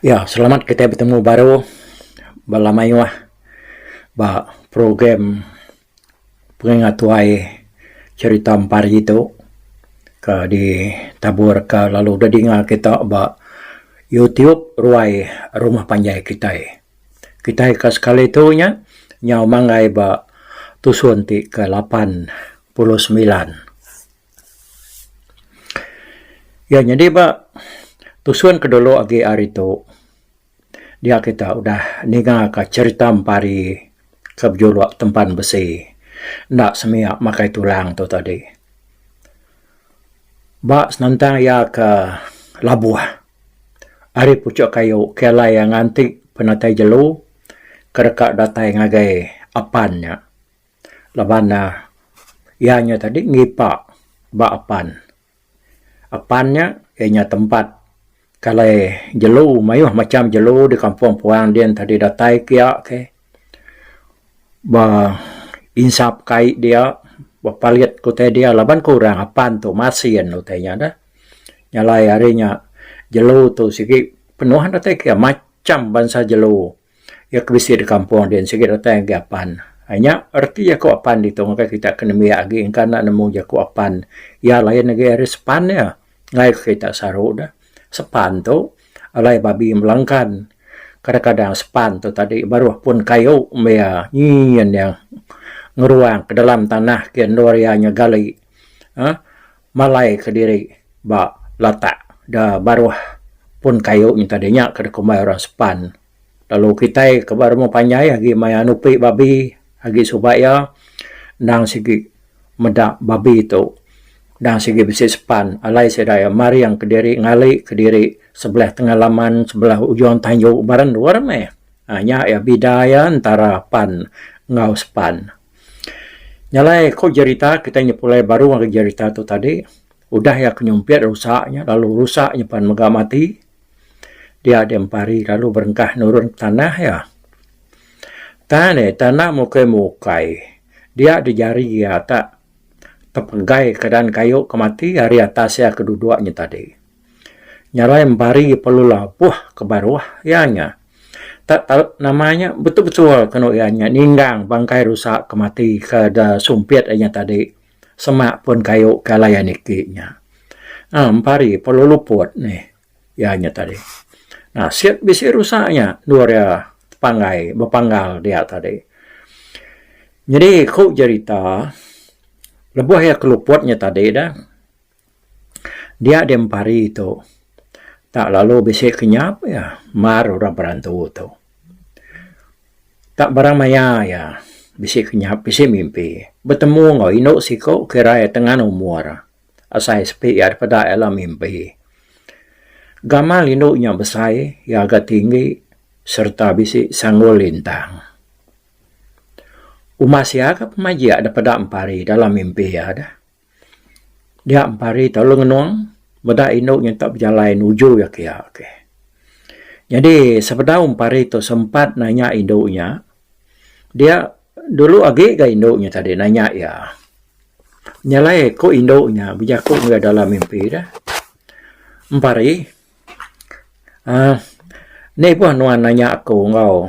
Iya, selamat kitai betemu baru bala mayuh ba program Pengingau Tuai Cherita Empari tu ke ditaburka lalu deh dinga kita ba YouTube ruai rumah panjai kitai. Kitai ka sekali tu nya nyau manggai ba tusun ti ke lapan puluh semilan. Iya nyadi ba tusun ke dulu agi hari tu dia kita udah ninga ka cherita empari ke bejuluk tempan besi enda semia makai tulang tu tadi. Ba senentang iya ke labuh ari puchuk kayu ke alai iya nganti penatai jelu ke deka datai ngagai apan nya. laban ne iya nya tadi ngipak ba apan. Apan nya iya nya tempat kalai jelu mayuh macam jelu di kampung puang din tadi datai ke iya ke ba insap kai dia ba palit ke utai dia laban ke orang apan tu masin utai nya deh. Nyalai ari nya jelu tu sigi penuh datai ke iya macam bansa jelu. Iya ke bisi di kampung din sigi datai ngagai apan. Ai nya reti jaku apan ditu ngagai kita ke nembiak agi engka enda nemu jaku apan iya lain agi ari sepan iya. Ngagai ku kita saru da sepan tu alai babi melangkan. Kadang kadang sepan tu tadi baruh pun kayu meh iya nyin iya ngeruang ke dalam tanah ke endur iya nya gali. Aaa malai ka diri ba latak da baruh pun kayu nyengka da nya ke dikumbai orang sepan lalu kitai ke ba rumah panjai agi maya nupi babi agi suba iya endang sigi meda babi tu endang sigi bisi sepan alai sida iya maring ka diri ngali ka diri sebelah tengah laman sebelah ujung tanjung baran dua meh. Nya iya bida iya antara pan enggau sepan. Nya alai ku jerita kitai nyepulai baru ngagai jerita tu tadi udah iya ke nyumpit rusa nya lalu rusa nya pan mega mati dia di empari lalu berengkah nurun ke tanah iya. Tang ni tanah mukai mukai dia di jari iya tak tepegai keadaan kayu ke mati ari atas iya ke duduk nya tadi. Nyarai empari pelula puh ke baruh iya nya. Tak taut nama nya betul-betul kenu iya nya ninggang bangkai rusa ke mati ke da sumpit iya nya tadi semak pun kayu ke alai iya niki nya. Aa empari peluluput nih iya nya tadi. Aa sik bisi rusa nya endur iya panggai bepanggal dia tadi. Nyadi ku jerita lebuh iya keluput nya tadi dah. Dia di empari tu tak lalu bisi ke nyap iya mar orang perantu tu. Tak barang maya iya bisi ke nyap bisi mimpi betemu enggau indu siko kira iya tengan umur asai sepi iya dipeda iya dalam mimpi. Gamal indu nya besai iya ga tinggi serta bisi sanggul lintang. Umas iya ga pemajik dipeda empari dalam mimpi iya deh. Dia empari telu ngenung meda indu inya ento bejalai nuju iya kiya keh. Nyadi sebedau empari tu sempat nanya indu inya dia dulu agi ga indu inya tadi nanya iya. Nyalai ku indu inya bejaku enggau iya dalam mimpi deh. Empari uhh ni boh nuan nanya aku enggau.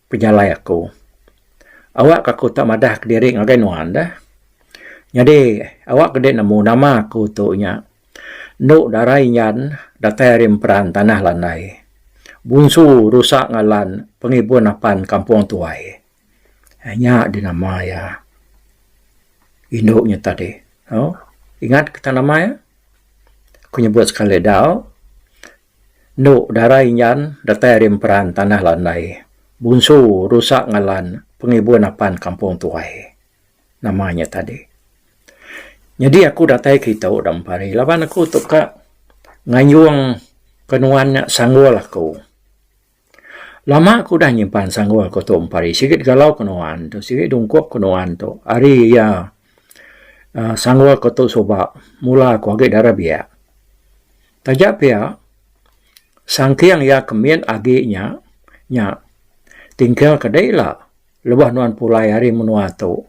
Pejalai aku. Awak ka aku tak madah ke diri ngagai nuan dah. Nyadi awak ke dek nemu nama aku tu nya endu darai nyan datai ari emperan tanah landai Bunsu Rusa Ngalan pengibun apan Kampung Tuai. Ai nya di nama iya indu nya tadi. Au ingat ke tang nama iya? Aku nyebut sekali dau. Endo dara injan datai ari emperan tanah landai bunsu rusa ngalan pengibun apan kampung tuai nama nya tadi. Nyadi aku datai kitu da Mempari laban aku tu ka ngayung ke nuan nya sanggul aku. Lama ku udah nyimpan sanggul ku tu mpa ri sigi galau ku nuan tu sigi dungkup ku nuan tu ari iya uhh sanggul ku tu suba mula ku agi dara biak. Taja pia sangking iya ke mit agi nya nya tingkil ke dei ila lebuh nuan pulai ari menua tu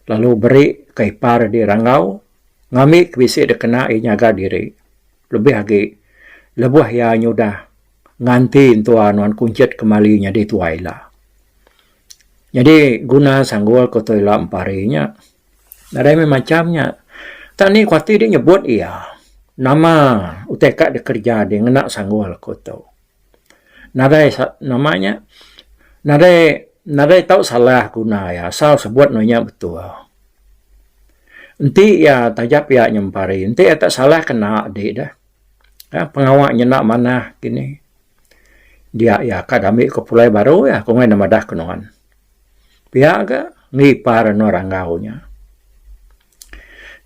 lalu beri ka ipar di rangau ngambi ke bisi dikena iya nyaga diri. Lebih agi, lebuh iya nyudah nganti entua nuan kunchit kemali nyadi tuai ila. Nyadi guna sanggul ke tu ila empari nya. Nadai meh macham nya. Tang ni kuati dih nyebut iya? Nama utai ka dikereja dih ngena sanggul ke tu? Nadai sa nama nya nadai nadai tau salah guna iya asal sebut nuh nya betul. Enti iya taja pia nyempari enti iya tau salah kena adi deh uhh pengawa nyenda manah kinih dia iya ka dami ku pulai baru iya ku ngai nuh madah ku nuan. Pia ga ngipar nuh rangau nya.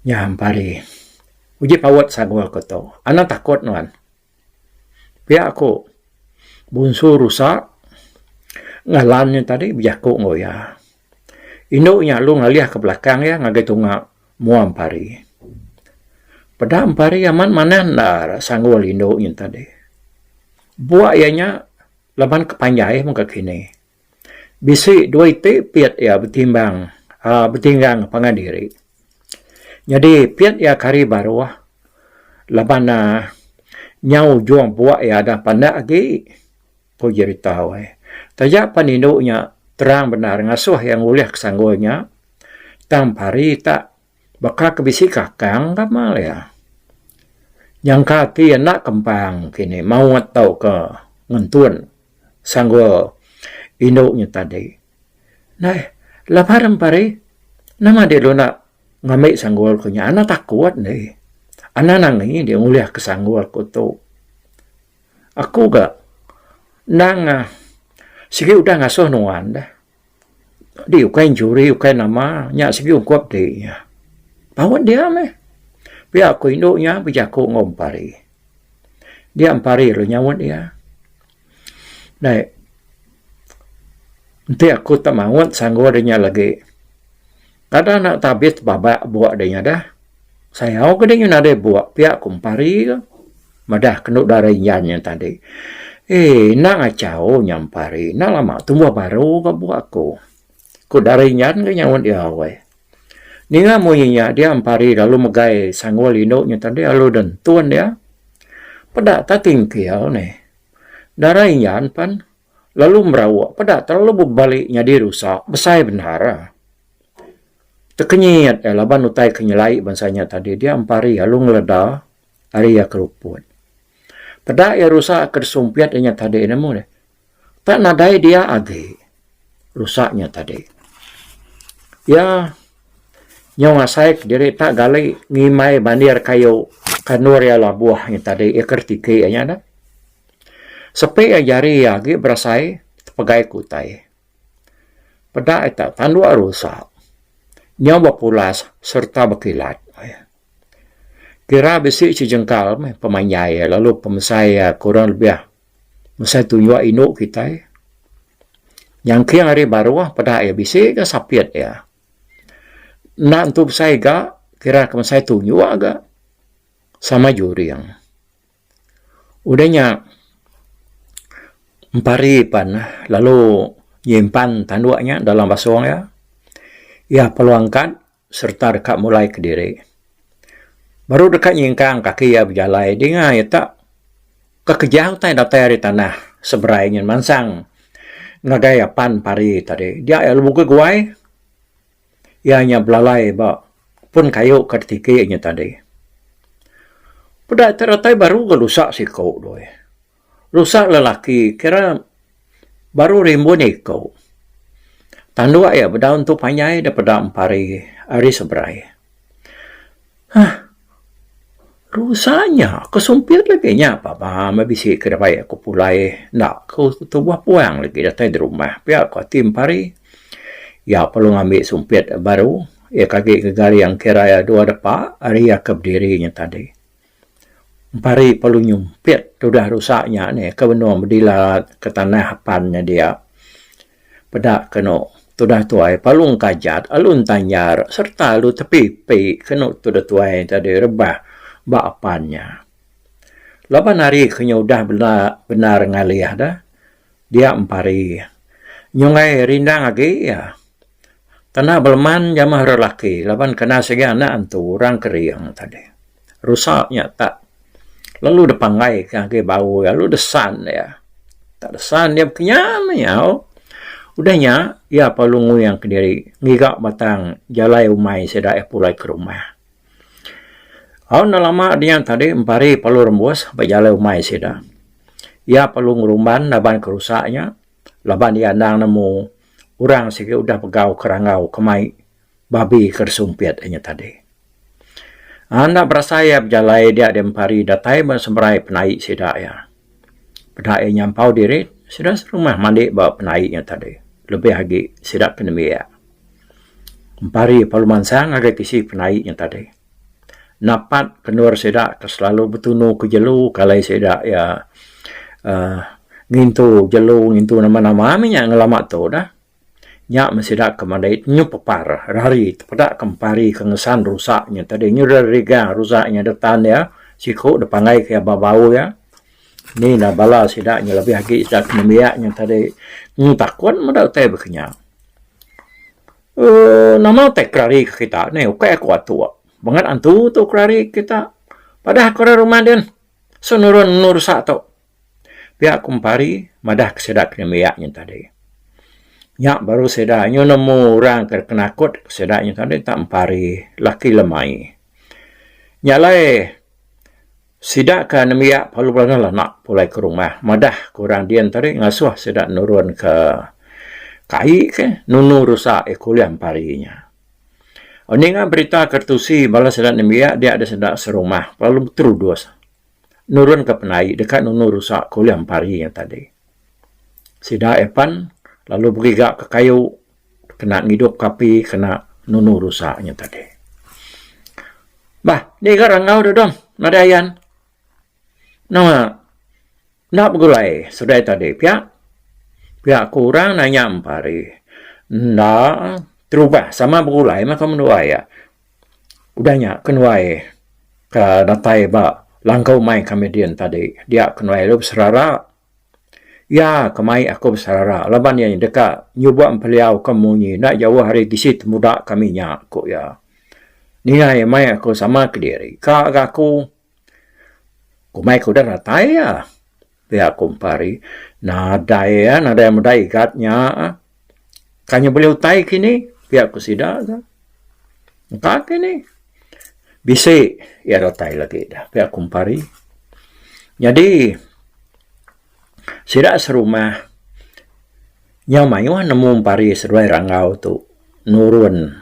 Nya empari uji paut sagu ku tu anang takut nuan. Pia aku bunsu rusa ngalan nya tadi bejaku enggau iya. Indu nya lalu ngalih ke belakang iya ngagai tunga mua empari. Peda empari amat manah enda ira sanggul indu nya tadi. Bua iya nya laban ke panjai mega kini. Bisi dua iti pit iya betimbang aaa betinggang pangan diri. Nyadi pit iya kari baruh laban aaa nyau ujung pua iya dah pandak agi, ku jerita weh. Taja pan indu nya terang bendar ngasuh iya ngulih ke sanggul nya tang pari tak. Baka ke bisi kakang ka amal iya. Nyangka ati enda kempang kini maut tauka ngentun sanggul indu nya tadi. Neh laba ram pari nama deh lu enda ngambi sanggul ku nya anak takut deh. Anak nangi deh ngulih ka sanggul ku tu. Aku ga endang sigi udah ngasuh nuan deh. Ti ukai injuri ukai nama nya sigi ungkup ti nya. Paut dia meh. Pia ku indu nya bejaku enggau empari. Dia empari lalu nyaut iya. Dai enti aku tak maut sanggur inya lagi. Kada anak tabis tebabak bua deh nya dah. Sayau ke deh nyu nadai bua pia ku empari ke madah kendu dara injan nya tadi. Eii enda ngachau nya empari enda lama tumbuh baru ga bua ku. Ku dara injan ke nyaut iya weh. Ninga munyi nya dia empari lalu megai sanggul indu nya tadi lalu deh ntun iya. Peda ta tingkil neh. Dara injan pan. lalu merauk peda telalu bebali nyadi rusa besai bendar. Tekenyit iya laban utai ke nyelai bansa nya tadi dia empari alu ngeleda ari iya ke ruput. Peda iya rusa ke desumpit iya nya tadi nemu deh. Tak nadai dia agi rusa nya tadi. Iya nyau asai kediri tak gali ngimbai bandir kayu kandur iya labuh nya tadi iya ke retiki iya nya deh. Sepi iya jari iya agi berasai tepegai ke utai. Peda ita tanduk ari usa nyau bepulas sereta bekilat. Kira bisi ichih jengkal meh pemanjai iya lalu pemesai iya kurang lebih mesai tunjuk indu kitai. Nyangking ari baruh peda iya bisi ka sapit iya. Enda entu besai ga kira ke mesai tunjuk ga sama juring. Udah nya empari pan lalu nyimpan tanduk nya dalam basung iya. Iya perlu angkat sereta deka mulai kediri. Baru deka nyingkang kaki iya bejalai dinga iya tu ke kejau tai datai ari tanah seberai nyin mansang ngagai apan pari tadi. Dia iya lebuh ke guai. Iya nya belalai ba pun kayu ka ditiki nya tadi. Peda ti ratai baru ga lusa siku doi. Lusa lelaki kira baru rimbun iku. Tanduk iya bedau entu panjai daripada empari ari seberai. Hah. Rusak nya ke sumpit lagi nya paba meh bisi ke dabai aku pulai enda ku tubuh puang lagi datai di rumah pia ku ati empari. Iya perlu ngambi sumpit baru iya ke agi gegaring kira iya dua depa ari iya ke bediri nya tadi. Empari perlu nyumpit tudah rusak nya ni ke benung bedila ke tanah apan nya dia. Peda kenu tudah tuai Palung Kajat, Alu Ntanyar sereta Alu Tepipi kenu tudah tuai enti diri rebah ba apan nya. Laban ari ke nya udah bela bendar ngalih dah dia empari nyunggai rindang agi iya. Tanda beleman jamah orang laki laban kena sigi anak entu orang kering tadi. Rusa nya tak lalu de panggai ke agi bau iya lalu de san iya. Tak de san iya bekenyau menyau. Udah nya iya pa lalu nguing kediri ngiga batang jalai umai sida iya pulai ke rumah. Au enda lama dian tadi empari pa lalu rembus ba jalai umai sida. Iya pa lalu ngerumban naban ke rusa nya laban iya endang nemu Orang sigi udah begau ke rangau ke mai babi ke resumpit inya tadi. Enda berasai iya bejalai dia di empa hari datai ba seberai penai sida iya. Peda iya nyampau diri, sida serumah mandi ba penai iya tadi lebih agi sida ke nembiak. Empa hari pelu mansang ngagai tisi penai iya tadi. Napat kendur sida ke selalu betunu ke jelu kalai sida iya uhh ngintu jelu ngintu nama nama mih nya ngelama tu dah. Nya meh sida ke madai nyup pepar rari tepeda ke pari ke ngesan rusak nya tadi nyu da riga rusak nya da tan iya siku da pangai ke iya ba bau iya. Ni na bala sida nya lebih agi sida ke nembiak nya tadi nyu takun meda utai ba kenyang. Ooh nama utai kelari ke kita ni ukai aku atuk bangat antu tu kelari ke kita padah aku ari rumah din su nurun menu desa tu pia ku mempari madah ke sida ke nembiak nyin tadi nya baru sida nyu nemu orang ke kenakut ku sida nyin tadi ta mempari laki lemai nya alai Sida ka nembiak palu belanga lana pulai ke rumah madah ke orang diantara ngasuh sida nurun ke kai ke nunu rusa Ekuliam pari nya. Ninga berita ke retusi bala sida nembiak dia deh sida serumah lalu beterudus nurun ke penai deka nunu rusa Ekuliam pari nya tadi. Sida Epan lalu begiga ke kayu. Kena ngidupka api kena nunu rusa nya tadi. Bah, nya iga rangau deh dong nadai ayan. Nama enda begulai seduai tadi pia. Pia ku orang nanya empa hari. Enda terubah sama begulai meh kau menua iya. Udah nya kenuai ke datai ba langkau mai kami din tadi dia kenuai lu beserara. Iya ke mai aku beserara laban iya deka nyuba empeliau ke munyi enda jauh ari bisi temuda kami nya, ku iya. Ninga iya mai aku sama kediri ka ngagai aku. Komai ku deh datai iya, pia ku empa hari. Nadai iya, nadai meda igat nya. Ka nya bulih utai kini pia ku sida ka. Engka kini bisi iya datai lagi da pia ku empa hari. Nyadi sida serumah nyau mayuh nemu empa hari seduai rangau tu nurun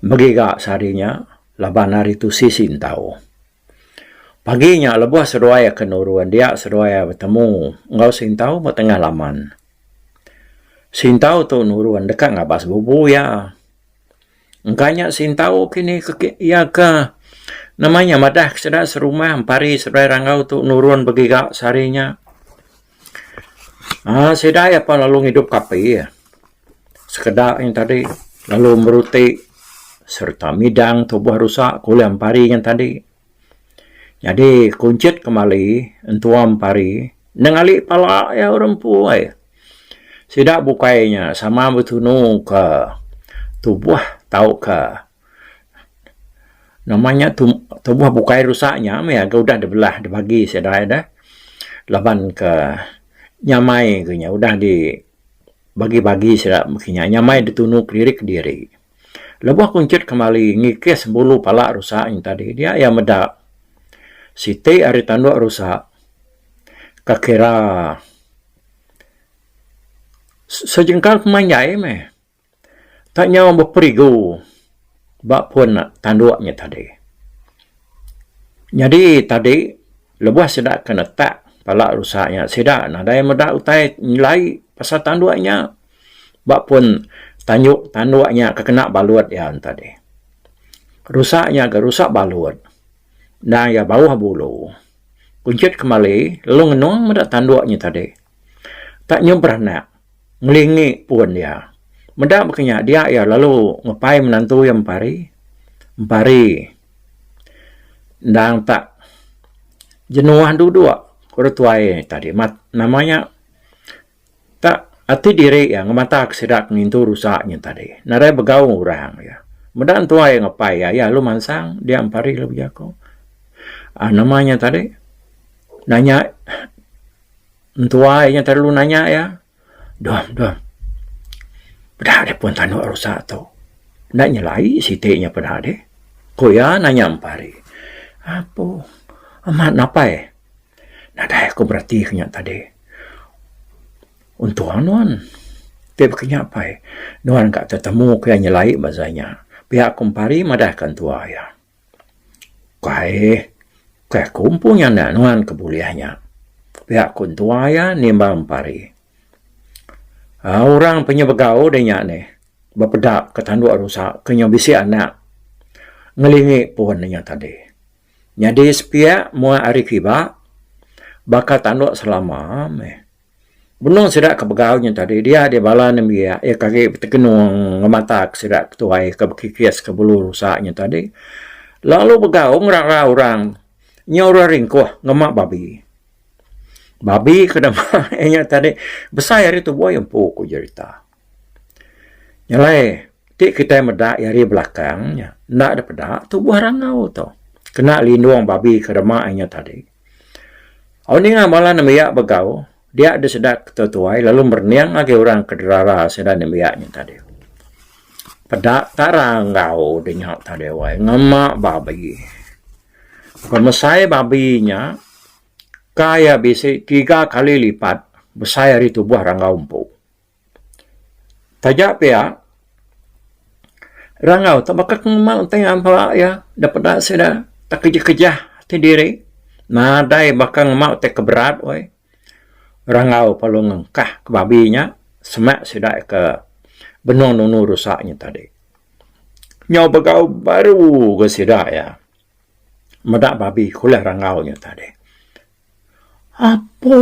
begiga sehari nya laban hari tu sisi entau. Pagi nya lebuh seduai ke nurun dia seduai betemu enggau sintau ba tengah laman. Sintau tu nurun deka ngabas bubu iya. Engka nya sintau kini ke iya ke nama nya madah ke sida serumah empari seduai rangau tu nurun begiga sehari nya. uhh Sida iya pun lalu ngidup ka api iya. Sekeda nya tadi lalu meruti sereta midang tubuh rusa ku ulih empari nya tadi. Nyadi kunchit kemali entua empari nengali pala iya orang empu ai. Sida bukai nya sama betunu ka tubuh tauka. Nama nya tumbuh bukai rusa nya meh agak udah dibelah dibagi sidai deh laban ke nyamai ku nya udah di bagi bagi sida kinya nyamai ditunu kediri kediri. Lebuh kunchit kembali ngikis bulu pala rusa nya tadi dia iya meda siti ari tandu rusa ka kira sejengkal pemain jai meh. tak nyau beperigu ba pun tanduk nya tadi. Nyadi tadi lebuh sida ke netak pala rusa nya sida nadai meda utai nyelai pasal tanduk nya ba pun tanduk tanduk nya ke kena balut iya nya tadi. Rusa nya ke rusa balut endang iya bauh bulu kunchit kemali lalu ngenung meda tanduk nya tadi tak nyau beranak. Ngelingi pun iya. Meda baka nya dia iya lalu ngepai menantu iya Empari. Empari endang tak jenuh duduk ku orang tuai iya tadi. Nama nya tak ati diri iya ngemata ke sida ke ngintu rusa nya tadi. Nadai begau ngan orang iya. Meda entua iya ngepai iya, iya lalu mansang dia Empari lalu bejaku uhh nama nya tadi nanya. Entuai nya terlu nanya iya, Dom, dom, peda deh pun tanu rusa tu. Enda nyelai siti nya peda deh. Ku iya nanya empa hari. Apo amat napai? Nadai ku bereti ke nya tadi. Untung nuan ti baka nya pai. Nuan ka tetemu ke nyelai basa nya. Pia ku empa hari madahka entua iya. Ukai, ukai aku empu nyanda nuan ke bulih nya. Pia ku entua iya nimbang pari. Aaa orang pe inya begau deh nya nih bepeda ke tandu rusa ke inya bisi anak ngelingi pun inya tadi. Nyadi sepiak mua ari kiba baka tandu selama meh. Benung sida ke begau nya tadi dia dih bala nembiak iya ke agi betegenung ngematak sida ke tuai ke bekikis ke belu rusa nya tadi lalu begau ngerara orang nya orang ringkuh ngema babi. Babi ke dema nya tadi besai ari tubuh iya empu ku jerita. Nya alai ti kitai meda iya ari belakang nya enda dipeda tubuh rangau tu kena lindung babi ke dema nya tadi. Au ninga bala nembiak begau dia di sida ke tuai-tuai lalu merening agi orang ke derara sida nembiak nya tadi. Peda tara enggau de nya tadi wai ngema babi. Pemesai babi nya ka iya bisi tiga kali lipat besai ari tubuh rangga umpu. Taja pia, rangau tu baka penguma ti ngambak iya da peda sida tak kejah-kejah ati diri nadai baka nguma ti ke berat wei. Rangau perlu ngengkah ke babi nya sema sida ke benung nunu rusa nya tadi. Nyau begau baru ga sida iya. meda babi kulih rangau nya tadi. Apu!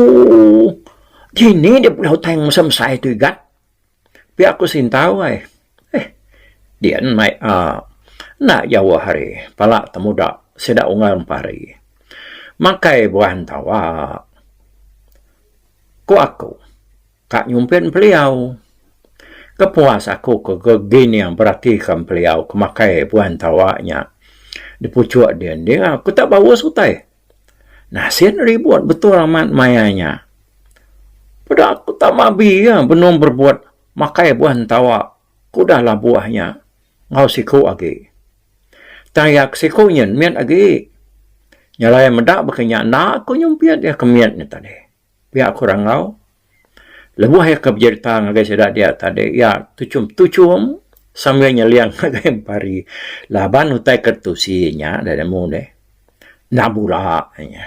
Dini dek bela utai ngusem sai tu igat? Pia ku Sintau ai. Eh, dian mai a. Enda jauh hari pala temuda sida unggal empari. Makai buah entawa, ku aku. Ka nyumpit empeliau. Kepuas aku ke Georgina beratika empeliau ke makai buan tawa nya dipuchuk din ding aku tak baus utai. Nasin ribut betul amat maya nya. Peda aku tak mabi iya benung berebut makai buan tawa ke udah labuh nya enggau siku agi. Tang iya ke siku nyin mit agi. Nyelai meda baka nya enda aku nyumpit iya ke mit nya tadi. Pia aku rangau, lebuh iya ke bejerita ngagai sida dia tadi iya tuchum-tuchum sambil nyeling ngagai empari laban utai ke tusi nya da nemu deh enda bula inya.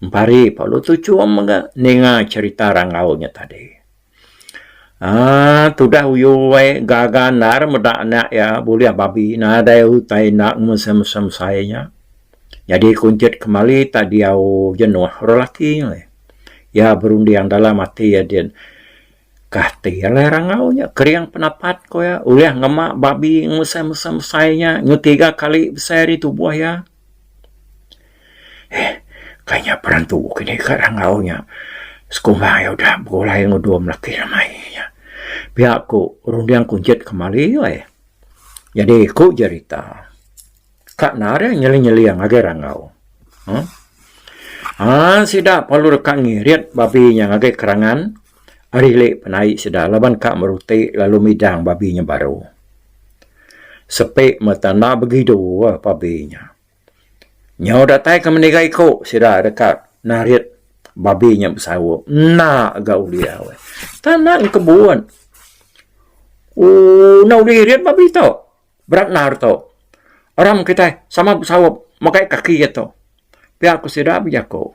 Empari pa lu tuchum mega ninga cherita rangau nya tadi. Aaa tudah uyuh wei gaga endar meda nya iya bulih babi nadai utai enda mesai-mesai mesai nya nyadi kunchit kemali ta diau jenuh orang laki ngalai iya berunding dalam ati iya din kah ti alai rangau nya kering penapat ku iya ulih ngema babi mesai-mesai mesai nya nyau tiga kali besai ari tubuh iya. Heh, kai nya perantu ke nih ka rangau nya sekumba iya udah begulai enggau dua melaki ramai nya. Pia ku runding ku jit kemali ai. Jadi ku je rita, ka nare nyeling-nyeling ngagai rangau. Uhh. Aaa sida perlu deka ngirit babi nya ngagai kerangan. Ari li penai sida laban ka meruti lalu midang babi nya baru. Sepi meta enda begidu ah babi nya. Nyau datai ke meniga iku sida deka narit babi nya besaup. Enda ga ulih awe. Tanang kebun. Ooh enda ulih rit babi tu. Berat naur tu. Orang kitai sama besaup megai kaki iya tu. Pia ku sida bejaku.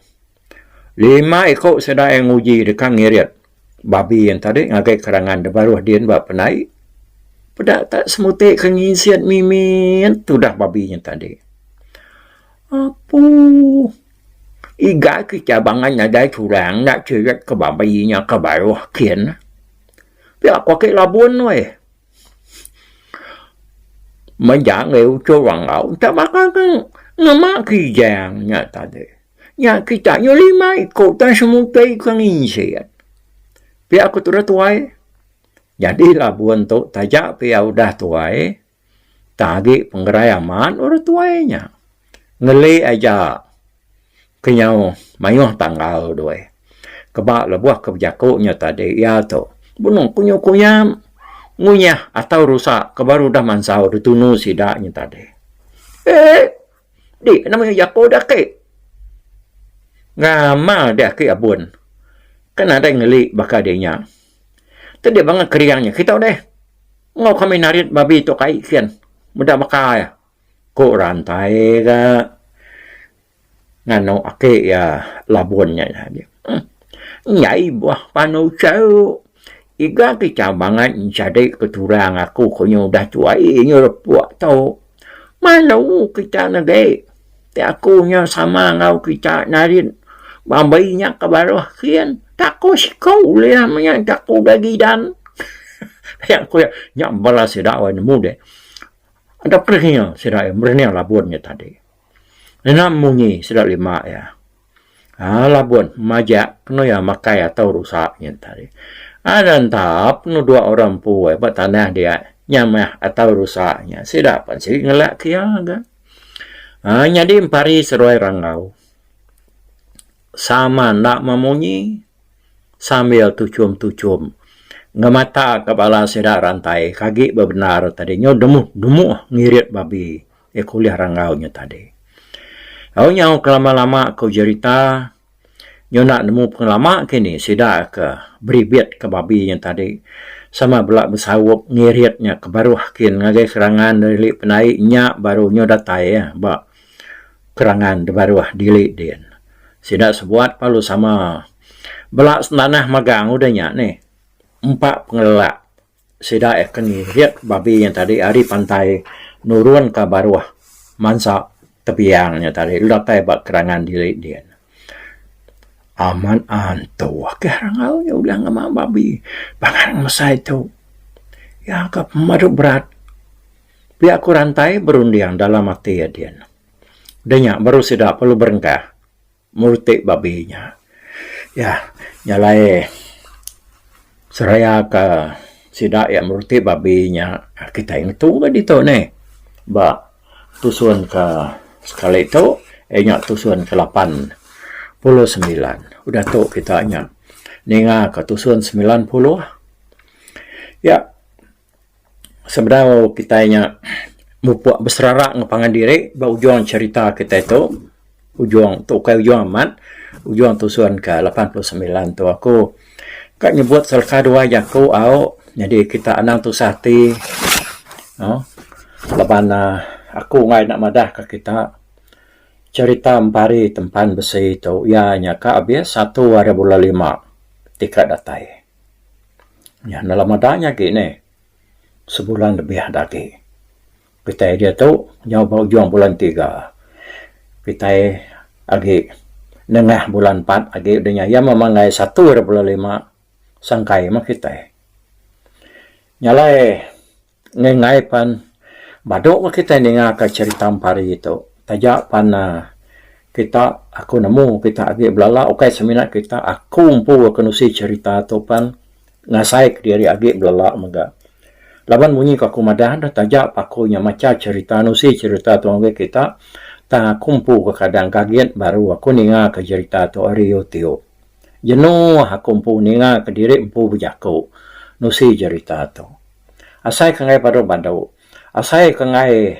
Lima iku sida iya nguji deka ngirit babi iya tadi ngagai kerangan da baruh din ba penai. Peda ka semuti ke nginsik mimi tudah babi iya tadi. Apu! Iga kitai bangan nadai turang enda sirit ke babi iya ke baruh kin. Pia ku aki labun weh. Meda ngagai uchur rangau enta baka ke ngema kijang nya tadi. Nya kita nyau lima iku tang semutai ke ngincit. Pia ku tudah tuai. Jadi labun tu taja pia udah tuai tang agi pengerai amat orang tuai nya. Ngeli aja. Kenyau mayuh tanggal due. Keba lebuh ke bejaku nya tadi iya tu benung kunyu kuyam ngunyah atau rusa ke baru udah mansau di tunu sida nya tadi. Eek di enda mayuh jaku deh aki. Ngamal deh aki abun ke nadai ngeli baka dih nya. Tadi bangah kering nya kitak deh. Enggau kami narit babi tu kai kin meda baka iya. Ku rantai ga nganu aki iya labun nya nyadi. Nyai ibuh panu cheu iga ti caban ai nyadi keturang aku ku nyu udah tuai nyu repuk tu. Malu kita neh deh ti aku nya sama enggau kita nya rin ba mei nya ke baruh kin taku siku ulih meh nya taku udah gidan. Nya bala sida wei nemu deh. Enda kelinga sida iya merening labun nya tadi. Enda munyi sida lima iya. Haa labun majak kenu iya makai atau rusa nya tadi. Ada entap kenu dua orang empu iya ba tanah dia nya meh atau rusa nya sida pan sigi ngelak ke iya ga. Haa nyadi empari seruai rangau sama enda memunyi. sambil tuchum-tuchum ngemata ka bala sida rantai ke agi bebendar tadi nyau demuh-demuh ngirit babi iya ke ulih ranggau nya tadi. Au nyau ke lama-lama ku jerita nyau enda nemu pengelama kini sida ke beribit ka babi nya tadi sama bela besaup ngirit nya ke baruh kin ngagai serangan diri pendai nya baru nyau datai ba Kerangan di baruh dili din. Sida sebuat palu sama. Bela sentanah magang udah nya nih. Empa pengelala sida iya ke ngirit babi nya tadi ari pantai nurun ka baruh mansa tebiang nya tadi lalu datai ba kerangan dili din. Amat antu aka rangau nya udah ngema babi. Pangan masa itu. Iya ka pemadu berat. Pia ku Rantai berunding dalam ati iya din. Udah nya baru sida perlu berengkah muruti babi nya. Iya nya alai seraya ka sida iya muruti babi nya kitai ngetu ga ditu nih ba tusun ka sekali tu iya nya tusun ke lapan puluh semilan. Udah tu kita nya ninga ka tusun semilan puluh. Iya. Sebedau kitai nya mupuk beserara enggau pangan diri ba ujung cherita kitai tu, ujung tu ukai ujung amat, ujung tusun ke lapan puluh semilan tu aku ka nyebut selaka dua jaku au nyadi kita anang tusah ati uhh laban uhh aku angai enda madah ka kita cherita Empari Tempan Besi tu iya nya ka abis satu ari bulan lima ti ka datai. Nya ne lama dai agi ne sebulan lebih da agi kitai diatu nyau ba ujung bulan tiga kitai agi nengah bulan empat agi udah nya iya meh manggai satu ira bulan lima sangkai meh kitai nya alai. Ngengai pan badu ga kitai ninga ka cerita empari tu taja pan uhh kita aku nemu kita agi belala ukai semina kita aku empu ke nusi cerita tu pan ngasai ke diri agi belala mega laban munyi ke aku madah ne taja pa aku nya macha cerita nusi cerita tu ngagai kita tang aku empu ke kadang gagit baru aku ninga ka cerita tu ari youtube jenuh aku empu ninga ke diri empu bejaku nusi cerita tu. Asai ke enggai padu badu. Asai ke enggai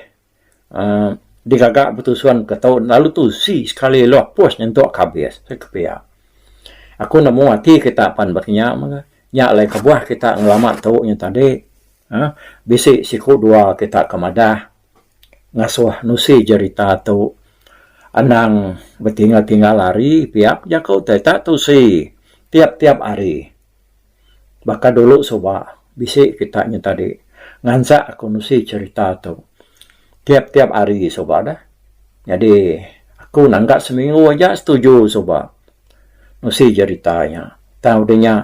uhh digaga betusun ke tau lalu tusi sekali lalu apus nyentuk ke abis. Seh ke pia. Aku nemu ati kita pan baka nya mega. Nya alai kebuah kita ngelama tu nya tadi uhh bisi siku dua kita ke madah ngasuh nusi jerita tu anang betinggal-tinggal hari pia ku jaku kita tusi tiap-tiap hari. Baka dulu suba, bisi kita nya tadi ngansak aku nusi cherita tu tiap-tiap hari suba dah. Nyadi aku nangka seminggu aja setuju suba nusi cherita nya. Tang udah nya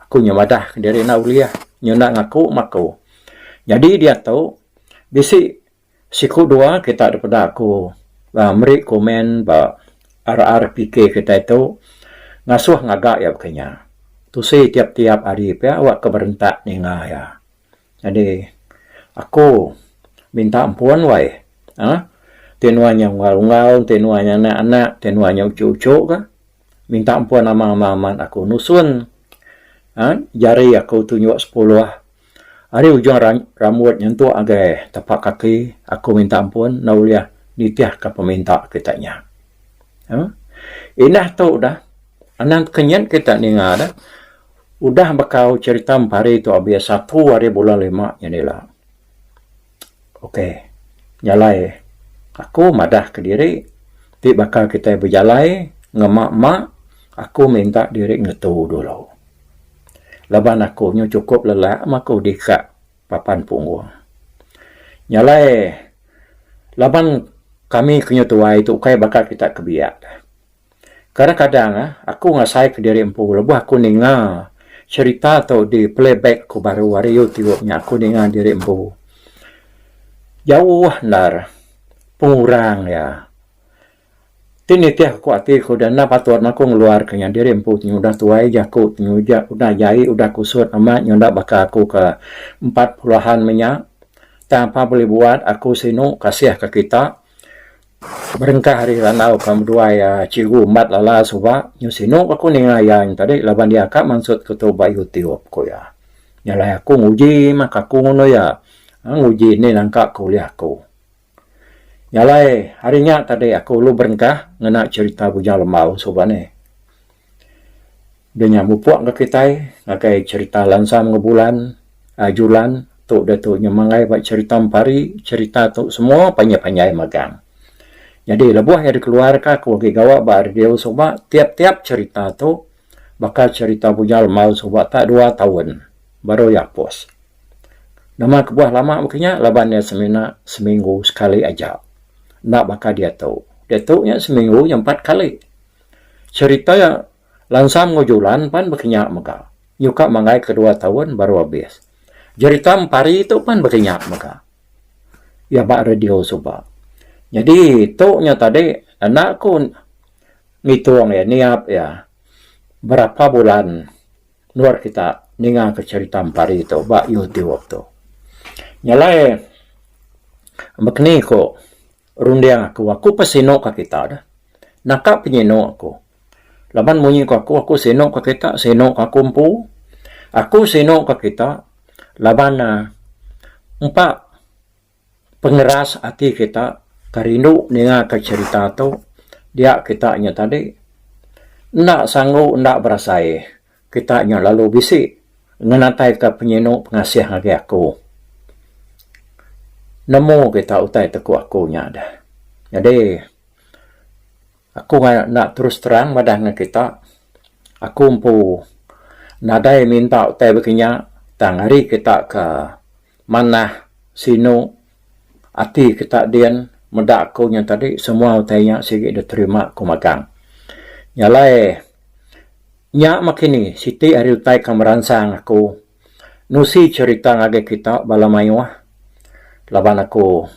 aku nya madah diri enda ulih nyenda ngaku mak aku. Nyadi diatu bisi. Siku dua kita dipeda ku meri komen ba RRPK kitai tu ngasuh ngaga iya baka nya. Tusi tiap-tiap hari pia awak ke berentak ninga iya. Nyadi aku minta ampun wai aaa ti nuan nya unggal-unggal, ti nuan nya anak-anak, ti nuan nya uchu-uchu ka. Minta ampun nama ama amat aku nusun ha jari aku tunjuk sepuluh ari ujung ram rambut nyentuk agai tapak kaki aku minta ampun enda ulih nitihka peminta kita nya. Ha indah tu dah anang tekenyit kita ninga dah udah bekau cherita mempari tu abis satu ari bulan lima nya ila. Ok, jalai. Aku madah ke diri ti baka kitai bejalai ngema ma aku minta diri ngetu dulu. Laban aku nyu chukup lelak ma aku di ka papan punggung. Jalai laban kami ke nyu tuai tu ukai baka kita ke biak. Kadang-kadang aku ngasaika diri empu lebuh aku ninga cherita tu di playback ku baru ari youtube nya aku ninga diri empu. Jauh endar pengurang iya. Ti nitih ku ati ku da enda patut aku ngeluar ka nya diri empu ti udah tuai jaku ti udah jai udah kusut amat nyau enda baka aku ka empat puluhan menya tang apa bulih buat aku sinu kasih ka kita Berengkah ari randau ka meduai iya, Cikgu Mat Lala suba nyu sinu ka aku ninga iya nyu tadi laban iya ka mansut ke tu ba YouTube, ku iya. Nya alai aku nguji mah ka aku ngunu iya. Hang nguji nih nangka ke ulih aku. Nya alai hari nya tadi aku ulu berengkah ngena cherita Bujang Lembau suba nih. Dia nya mupuk enggau kitai ngagai cherita Lansa Menga Bulan, Ajulan, tu dia tu nyemanggai ba cherita empari, cherita tu semua panjai-panjai magang. Nyadi lebuh iya dikeluarka aku agi gawa ba radio suba tiap-tiap cherita tu baka cherita Bujal Mal suba tak dua taun baru iya pos. Nama kebuah lama baka nya laban iya semina seminggu sekali aja. Enda baka diatu. Diatu nya seminggu nyampat kali cherita. Lansam enggau Julan pan bekinya mega. Nyuka manggai ke dua taun baru abis. Jerita Empari tu pan bekinya mega. Iya ba radio suba. Nyadi tu nya tadi enda ku ngitung iya niap iya berapa bulan endur kita ninga ke Jerita Empari tu ba YouTube tu. Nya alai mekeni ku. Runding aku, aku peh sinu ka kita dah. Naka penyinu aku. Laban munyi ku aku, aku sinu ka kita, sinu ka aku empu. Aku sinu ka kita laban empa pengeras ati kita ke rindu ninga ka cherita tu dia kita nya tadi enda sanggu enda berasai Kita nyau lalu bisi ngenataika penyinu pengasih ngagai aku. Nemu kita utai teku aku nya deh. Nyadi, aku enda terus terang madah ngan kita. Aku empu nadai minta utai baka nya tang ari kita ke manah sinu. Ati kita din meda aku nya tadi semua utai nya sigi diterima ku magang. Nyalai nya mah kini siti ari utai ke meransang aku nusi cherita ngagai kita bala mayuh laban aku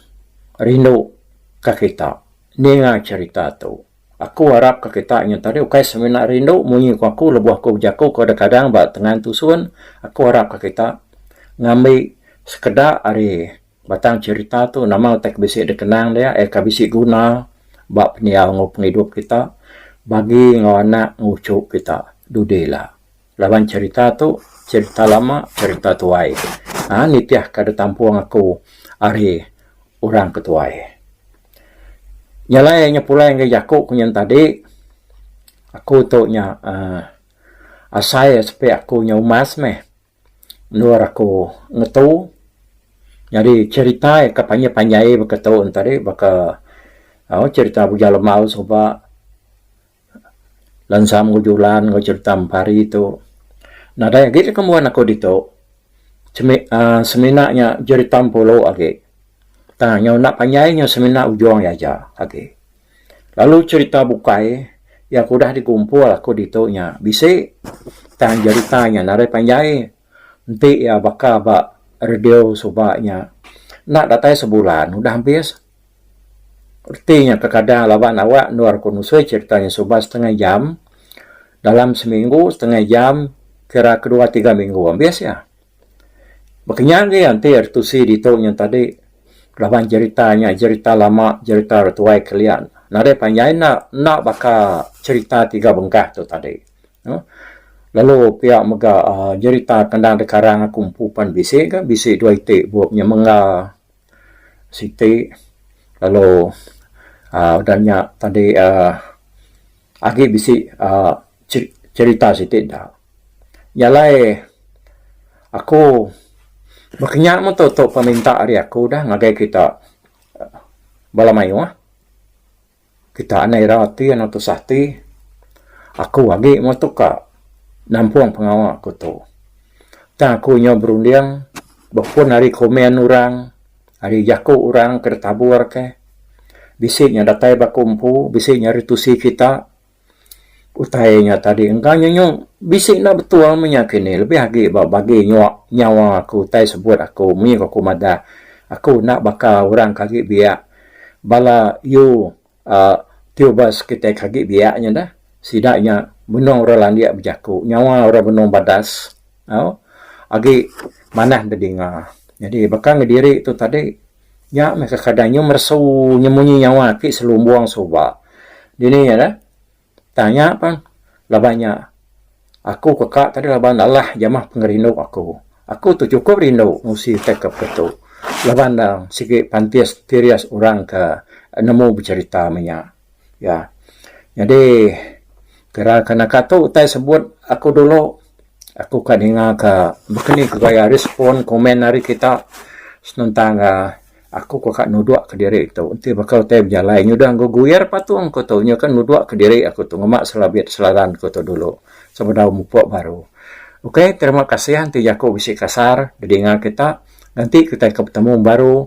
rindu ka kita ninga cherita tu. Aku arap ka kita nyun tadi ukai semina rindu munyi ku aku lebuh aku bejaku kada kadang ba tengan tusun aku arap ka kita ngambi sekeda ari batang cerita tu nama utai ke bisi dikenang dia eh ka bisi guna ba pendiau enggau pengidup kita bagi enggau anak enggau uchu kita dudi ila. Laban cherita tu, cherita lama, cherita tuai, aa nitih ka ditampung aku ari orang ke tuai. Nya alai nya pulai ngagai jaku ku nyin tadi, aku tu nya aa asai sepi aku nya umas meh endur aku ngetu. Nyadi cherita ka panjai panjai baka tu tadi baka aa cherita Buja Lemau suba. Lansam enggau Julan enggau cherita Empari tu nadai agi lagi mbuan aku ditu. Chemi aaa semina nya jerita Empulu agi. Tang nyau enda panjai nya semina Ujong iya aja agi. Lalu cherita Bukai iya ke udah digumpul aku ditu nya bisi tang jerita nya nadai panjai enti iya baka ba radio suba nya enda datai sebulan udah habis. Reti nya kekadang laban awak endur aku nusui cherita nya suba setengah jam dalam seminggu setengah jam kira kedua tiga minggu ambis iya. Baka nya agi enti ari tusi ditu nya tadi laban cherita nya cherita lama cherita orang tuai kelia nadai panjai enda enda baka cherita tiga bengkah tu tadi uhh lalu pia mega cherita kandang deka karang aku empu pan bisi ka bisi dua iti bup nya mengga. siti lalu aaa udah nya tadi aaa agi bisi aaa cherita siti da nya alai aku baka nya meh tu tu peminta ari aku da ngagai kita bala mayuh. Kita enda ira ati anu tusah ati. Aku agi mua tu ka nampung pengawa aku tu. Tang aku nyau berunding bepun ari komen orang, ari jaku orang ke ditabur ke. Bisi nya datai ba aku empu, bisi nya ari tusi kita. Utai nya tadi engka nyenyu bisi enda betul menya kini lebih agi ba bagi nyuak nyawa aku utai sebut aku mih ku aku madah aku enda baka orang ke agi biak bala you uhh tubers kitai ke agi biak nya dah sida nya benung orang landik bejaku nyawa orang benung badas tau agi manah didinga jadi baka ngediri tu tadi. Nya meh kekadang inya meresu inya munyi nyawa ati selumbung suba. Dini iya dah. Tang nya pun laban nya aku ke ka tadi laban alah iya mah pengerindu aku. Aku tu chukup rindu ngusi tai ke petu laban ne sigi pantis tirius orang ke nemu becherita meh nya. Iya. Nyadi, kira ke naka tu utai sebut aku dulu, aku ka ninga ka baka ni gaya respond, komen ari kita senentang uhh aku ko ka nudok ka diri tu. Enti baka utai bejalai nyudah enggau guir patung ku tu nyuka nudok ka diri aku tu ngema selabit selaran ku tu dulu sebedau mupok baru. Okay, terima kasih enti jaku bisi kasar didinga kita. Nganti kitai ka betemu baru.